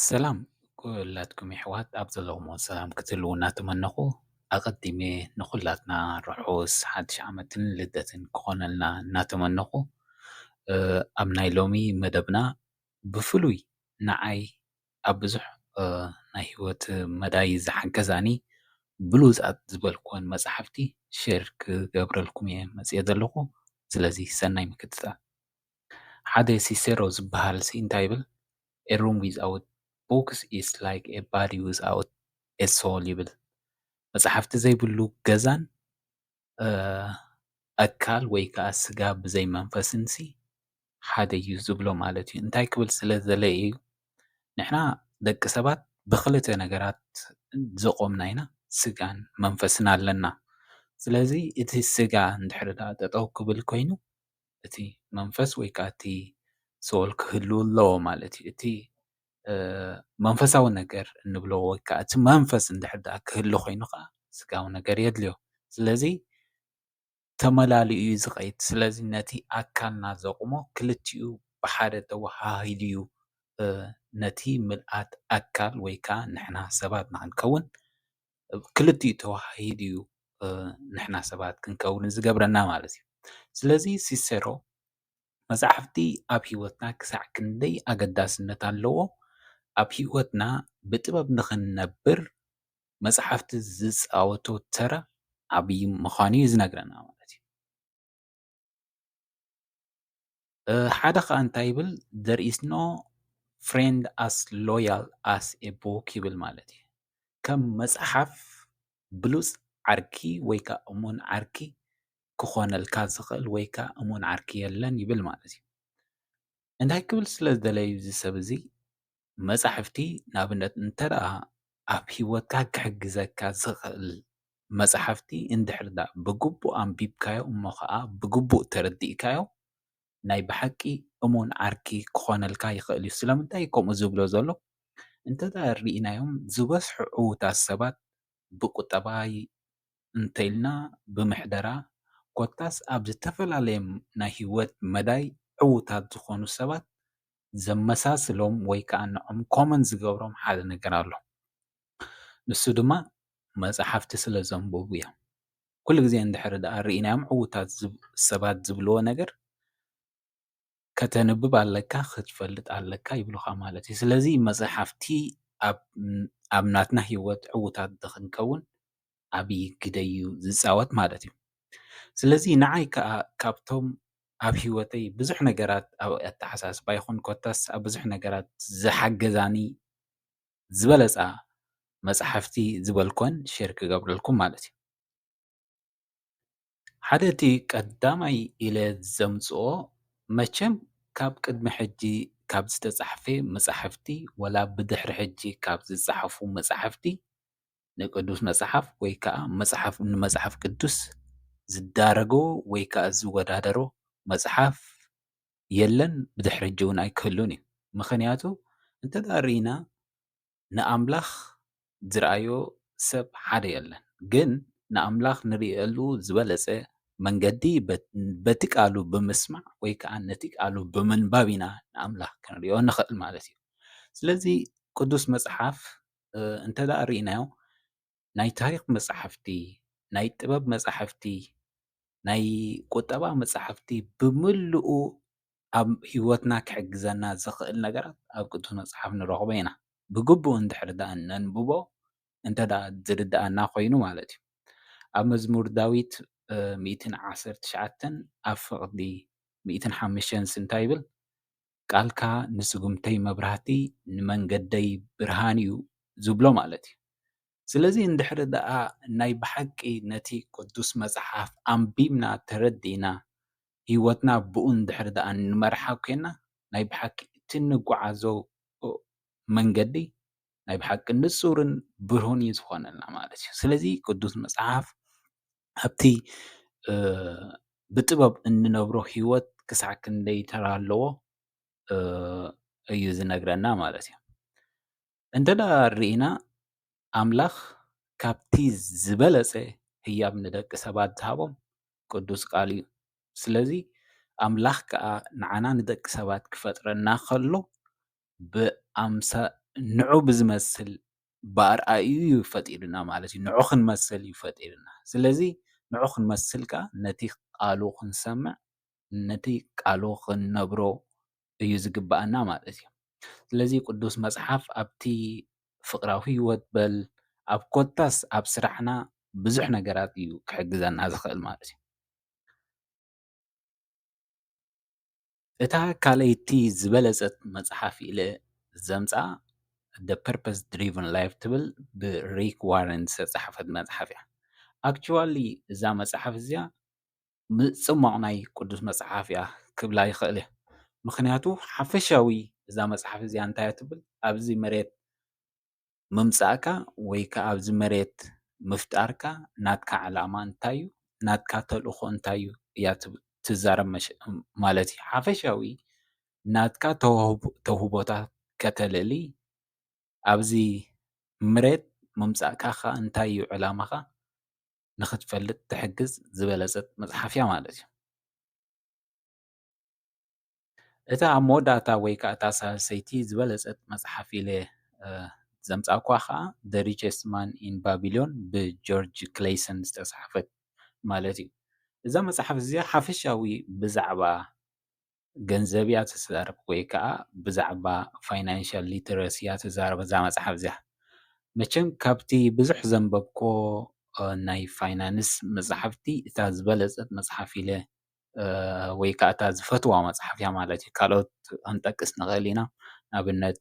ሰላም ኩላትኩም የሕዋት ኣብ ዘለኹሞ ሰላም ክትህልዉ እናተመነኹ ኣቐዲመ ንኹላትና ርሑስ ሓድሽ ዓመትን ልደትን ክኾነልና እናተመነኹ ኣብ ናይ ሎሚ መደብና ብፍሉይ ንዓይ ኣብ ብዙሕ ናይ ሂወት መዳይ ዝሓገዛኒ ብሉጻት ዝበልክወን መጽሓፍቲ ሼር ክገብረልኩም እየ መጺኤ ዘለኹ ስለዚ ሰናይ ምክትታል። ሓደ ሲሴሮ ዝበሃልሲ እንታይ ይብል፣ A room without books is like a body without a soul ይብል፣ መጻሕፍቲ ዘይብሉ ገዛን ኣካል ወይ ከኣ ስጋ ብዘይ መንፈስንሲ ሓደ እዩ ዝብሎ ማለት እዩ። እንታይ ክብል ስለ ዝደለየ እዩ፣ ንሕና ደቂ ሰባት ብኽልተ ነገራት ዝቖምና ኢና፣ ስጋን መንፈስን ኣለና። ስለዚ እቲ ስጋ እንድሕሪ ደኣ ጠጠው ክብል ኮይኑ እቲ መንፈስ ወይ ከኣ እቲ ሶል ክህሉ ኣለዎ ማለት እዩ። እቲ መንፈሳዊ ነገር እንብሎ ወይ ከኣ እቲ መንፈስ እንድሕር ደኣ ክህሉ ኮይኑ ከኣ ስጋዊ ነገር የድልዮ። ስለዚ ተመላሊኡ እዩ ዝኸይድ። ስለዚ ነቲ ኣካልና ዘቑሞ ክልቲኡ ብሓደ ተወሃሂዱ እዩ ነቲ ምልኣት ኣካል ወይ ከኣ ንሕና ሰባት ንኽንከውን ክልቲኡ ተወሃሂዱ እዩ ንሕና ሰባት ክንከውን ዝገብረና ማለት እዩ። ስለዚ ሲሰሮ መፅሓፍቲ ኣብ ሂወትና ክሳዕ ክንደይ ኣገዳስነት ኣለዎ? ኣብ ሂወትና ብጥበብ ንኽንነብር መፅሓፍቲ ዝፃወቶ ተራ ዓብዪ ምዃኑ እዩ ዝነግረና ማለት እዩ። ሓደ ከዓ እንታይ ይብል there is no friend as loyal as a book ይብል ማለት እዩ ከም መፅሓፍ ብሉፅ ዓርኪ ወይ ከዓ እሙን ዓርኪ ክኾነልካ ዝኽእል ወይ ከዓ እሙን ዓርኪ የለን ይብል ማለት እዩ። እንታይ ክብል ስለ ዝደለዩ እዚ ሰብ እዚ መጻሕፍቲ ንኣብነት እንተ ደኣ ኣብ ህይወትካ ክሕግዘካ ዝኽእል መጻሕፍቲ እንድሕሪ ደኣ ብግቡእ ኣንቢብካዮ እሞ ኸኣ ብግቡእ ተረዲእካዮ ናይ ብሓቂ እሙን ዓርኪ ክኾነልካ ይኽእል እዩ። ስለምንታይ እዩ ከምኡ ዝብሎ ዘሎ እንተ ደኣ ርኢናዮም ዝበዝሑ ዕዉታት ሰባት ብቁጠባ እንተኢልና ብምሕደራ ኮታስ ኣብ ዝተፈላለየ ናይ ህይወት መዳይ ዕዉታት ዝኾኑ ሰባት ዘመሳስሎም ወይ ከኣ ንዖም ኮመን ዝገብሮም ሓደ ነገር ኣሎ። ንሱ ድማ መጽሓፍቲ ስለ ዘንብቡ እዮም። ኩሉ ግዜ እንድሕሪ ደኣ ርኢናዮም ዕዉታት ሰባት ዝብልዎ ነገር ከተንብብ ኣለካ ክትፈልጥ ኣለካ ይብሉኻ ማለት እዩ። ስለዚ መጽሓፍቲ ኣብ ኣብ ናትና ህይወት ዕዉታት ንኽንከውን ዓብዪ ግደ'ዩ ዝጻወት ማለት እዩ። ስለዚ ንዓይ ከኣ ካብቶም ኣብ ህይወተይ ብዙሕ ነገራት ኣብ ኣተሓሳስባ ይኹን ኮታስ ኣብ ብዙሕ ነገራት ዝሓገዛኒ ዝበለጻ መጽሓፍቲ ዝበልኩወን ሼር ክገብረልኩም ማለት እዩ። ሓደ እቲ ቀዳማይ ኢለ ዘምጽኦ መቸም ካብ ቅድሚ ሕጂ ካብ ዝተጻሕፈ መጻሕፍቲ ወላ ብድሕሪ ሕጂ ካብ ዝጸሓፉ መጻሕፍቲ ንቅዱስ መጽሓፍ ወይ ከኣ መጽሓፍ ንመጽሓፍ ቅዱስ ዝዳረጎ ወይ ከኣ ዝወዳደሮ መጽሓፍ የለን ብድሕሪ ሕጂ ውን ኣይክህሉን እዩ ምኽንያቱ እንተ ደኣ ርኢና ንኣምላኽ ዝረኣዮ ሰብ ሓደ የለን ግን ንኣምላኽ ንርእየሉ ዝበለጸ መንገዲ በቲ ቃሉ ብምስማዕ ወይ ከኣ ነቲ ቃሉ ብምንባብ ኢና ንኣምላኽ ክንሪኦ ንኽእል ማለት እዩ ስለዚ ቅዱስ መጽሓፍ እንተደኣ ርኢናዮ ናይ ታሪኽ መጻሕፍቲ፣ ናይ ጥበብ መጻሕፍቲ፣ ናይ ቁጠባ መጻሕፍቲ ብምሉኡ ኣብ ሂወትና ክሕግዘና ዝኽእል ነገራት ኣብ ቅዱስ መጽሓፍ ንረኽቦ ኢና። ብግቡእ እንድሕሪ ደኣ ነንብቦ እንተደኣ ዝርድኣና ኮይኑ ማለት እዩ። ኣብ መዝሙር ዳዊት ሚእትን ዓሰርተ ትሽዓተን ኣብ ፍቕዲ ሚእትን ሓመሽተንስ እንታይ ይብል? ቃልካ ንስጉምተይ መብራህቲ ንመንገደይ ብርሃን እዩ ዝብሎ ማለት እዩ። ስለዚ እንድሕሪ ደኣ ናይ ብሓቂ ነቲ ቅዱስ መጽሓፍ ኣንቢብና ተረዲእና ህይወትና ብኡ እንድሕሪ ደኣ ንመርሓ ኴንና ናይ ብሓቂ እቲ እንጉዓዞ መንገዲ ናይ ብሓቂ ንጹርን ብርሁን እዩ ዝኾነልና ማለት እዩ። ስለዚ ቅዱስ መጽሓፍ ኣብቲ ብጥበብ እንነብሮ ሂወት ክሳዕ ክንደይ ተራ ኣለዎ እዩ ዝነግረና ማለት እዩ። እንተ ርኢና ኣምላኽ ካብቲ ዝበለጸ ህያብ ንደቂ ሰባት ዝሃቦም ቅዱስ ቃሉ እዩ። ስለዚ ኣምላኽ ከኣ ንዓና ንደቂ ሰባት ክፈጥረና ከሎ ብኣምሳ ንዑ ብዝመስል ብኣርኣይኡ እዩ ፈጢሩና ማለት እዩ። ንዑ ክንመስል እዩ ፈጢሩና። ስለዚ ንዑ ክንመስል ከኣ ነቲ ቃሉ ክንሰምዕ ነቲ ቃሉ ክንነብሮ እዩ ዝግብኣና ማለት እዩ። ስለዚ ቅዱስ መጽሓፍ ኣብቲ ፍቕራዊ ህይወት በል ኣብ ኮታስ ኣብ ስራሕና ብዙሕ ነገራት እዩ ክሕግዘና ዝኽእል ማለት እዩ። እታ ካልኣይቲ ዝበለጸት መጽሓፍ ኢለ ዘምጽኣ The Purpose Driven Life ትብል ብ Rick Warren ዝተጻሕፈት መጽሓፍ እያ። Actually እዛ መጽሓፍ እዚኣ ምጽሟቕ ናይ ቅዱስ መጽሓፍ እያ ክብላ ይኽእል እየ። ምኽንያቱ ሓፈሻዊ እዛ መጽሓፍ እዚኣ እንታይ እያ ትብል ኣብዚ መሬት ምምጻእካ ወይ ከኣ ኣብዚ መሬት ምፍጣርካ ናትካ ዕላማ እንታይ እዩ ናትካ ተልእኾ እንታይ እዩ እያ ትዛረብ ማለት እዩ ሓፈሻዊ ናትካ ተውህቦታት ከተልዕሊ ኣብዚ ምሬት ምምጻእካ ከኣ እንታይ እዩ ዕላማኻ ንኽትፈልጥ ትሕግዝ ዝበለጸት መጽሓፍ እያ ማለት እዩ። እታ ኣብ መወዳእታ ወይ ከኣ እታ ሳልሰይቲ ዝበለጸት መጽሓፍ ኢለ ዘምጻእኩዋ ከኣ The Richest Man in Babylon ብጆርጅ ክለይሰን ዝተጻሕፈት ማለት እዩ። እዛ መጽሓፍ እዚኣ ሓፈሻዊ ብዛዕባ ገንዘብ እያ ትዛረብ ወይ ከኣ ብዛዕባ ፋይናንሻል ሊተረሲ እያ ትዛረብ እዛ መጽሓፍ እዚኣ። መቸም ካብቲ ብዙሕ ዘንበብኩዎ ናይ ፋይናንስ መጽሓፍቲ እታ ዝበለጸት መጽሓፍ ኢለ ወይ ከዓ እታ ዝፈትዋ መፅሓፍ እያ ማለት እዩ፡፡ ካልኦት ክንጠቅስ ንክእል ኢና፡፡ ንአብነት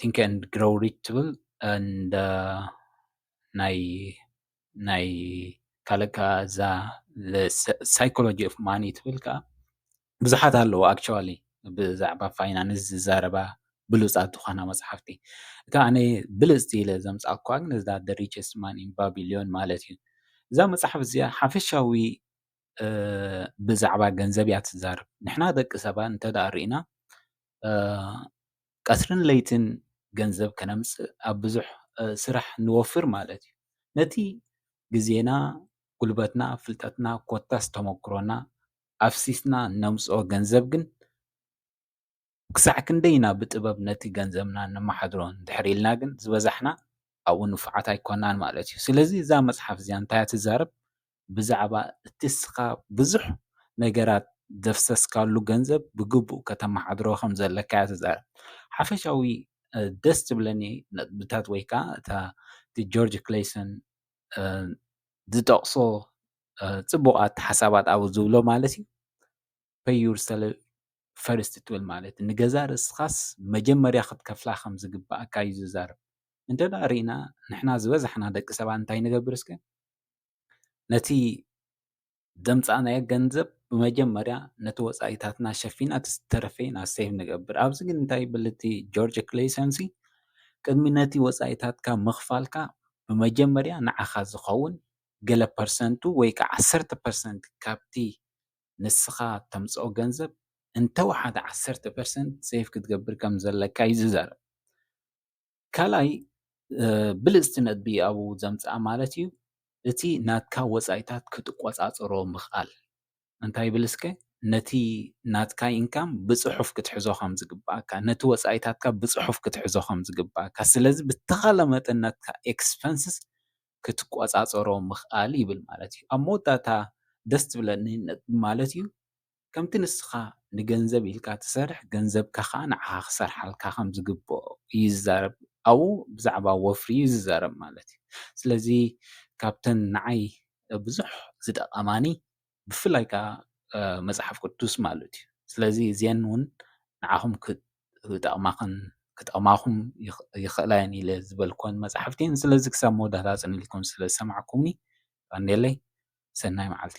ቲንክ ኤንድ ግሮው ሪች ትብል ኤንድ ናይ ካልእ ከዓ እዛ ሳይኮሎጂ ኦፍ ማኒ ትብል ከዓ ብዙሓት ኣለዋ ኣክቸዋሊ ብዛዕባ ፋይናንስ ዝዛረባ ብሉጻት ዝኾና መጽሓፍቲ እታ ኣነ ብልጽቲ ኢለ ዘምጻኣኩዋ ግን እዛ the richest man in Babylon ማለት እዩ እዛ መጽሓፍ እዚኣ ሓፈሻዊ ብዛዕባ ገንዘብ እያ ትዛረብ ንሕና ደቂ ሰባት እንተደኣ ርኢና ቀትርን ለይትን ገንዘብ ከነምጽእ ኣብ ብዙሕ ስራሕ ንወፍር ማለት እዩ ነቲ ግዜና ጉልበትና ፍልጠትና ኮታስ ተመክሮና ኣፍሲስና እነምጽኦ ገንዘብ ግን ክሳዕ ክንደይ ኢና ብጥበብ ነቲ ገንዘብና እነመሓድሮ እንድሕር ኢልና ግን ዝበዛሕና ኣብኡ ንፉዓት ኣይኮናን ማለት እዩ። ስለዚ እዛ መጽሓፍ እዚኣ እንታይ እያ ትዛረብ? ብዛዕባ እቲ እስኻ ብዙሕ ነገራት ዘፍሰስካሉ ገንዘብ ብግቡእ ከተመሓድሮ ከም ዘለካ እያ ትዛረብ። ሓፈሻዊ ደስ ዝብለኒ ነጥብታት ወይ ከዓ እታ እቲ ጆርጅ ክሌይሰን ዝጠቕሶ ፅቡቓት ሓሳባት ኣብኡ ዝብሎ ማለት እዩ Pay yourself first ትብል ማለት እዩ ንገዛ ርእስኻስ መጀመርያ ክትከፍላ ከም ዝግብኣካ እዩ ዝዛረብ እንተ ደኣ ርኢና ንሕና ዝበዛሕና ደቂ ሰባት እንታይ ንገብር እስከ ነቲ ዘምፃእናዮ ገንዘብ ብመጀመርያ ነቲ ወፃኢታትና ሸፊና እቲ ዝተረፈ ኢና ሴቭ ንገብር ኣብዚ ግን እንታይ ይብል እቲ ጆርጅ ክሌሰንሲ ቅድሚ ነቲ ወፃኢታትካ ምኽፋልካ ብመጀመርያ ንዓኻ ዝኸውን ገለ ፐርሰንቱ ወይ ከኣ ዓሰርተ ፐርሰንት ካብቲ ንስኻ እተምጽኦ ገንዘብ እንተ ወሓደ ዓሰርተ ፐርሰንት ሴቭ ክትገብር ከም ዘለካ እዩ ዝዛረብ። ካልኣይ ብልጽቲ ነጥቢ ኣብኡ ዘምጽኣ ማለት እዩ እቲ ናትካ ወጻኢታት ክትቆጻጸሮ ምኽኣል። እንታይ ይብል እስከ ነቲ ናትካ ኢንካም ብጽሑፍ ክትሕዞ ከም ዝግብኣካ፣ ነቲ ወጻኢታትካ ብጽሑፍ ክትሕዞ ከም ዝግብኣካ፣ ስለዚ ብተኻለ መጠን ናትካ ኤክስፐንስስ ክትቆጻጸሮ ምኽኣል ይብል ማለት እዩ። ኣብ መወዳእታ ደስ ትብለኒ ማለት እዩ፣ ከምቲ ንስኻ ንገንዘብ ኢልካ ትሰርሕ ገንዘብካ ከኣ ንዓኻ ክሰርሓልካ ከም ዝግብኦ ይዛረብ ኣብኡ ብዛዕባ ወፍሪ እዩ ዝዛረብ ማለት እዩ። ስለዚ ካብተን ንዓይ ብዙሕ ዝጠቐማኒ ብፍላይ ከኣ መጽሓፍ ቅዱስ ማለት እዩ። ስለዚ እዚኤን ውን ንዓኹም ክጠቕማኽን ክጠቕማኹም ይኽእላ እየን ኢለ ዝበልክወን መጽሓፍቲ እየን። ስለዚ ክሳብ መወዳእታ ኣጽኒዕኩም ስለ ዝሰማዕኩምኒ ቀንዴለይ ሰናይ መዓልቲ።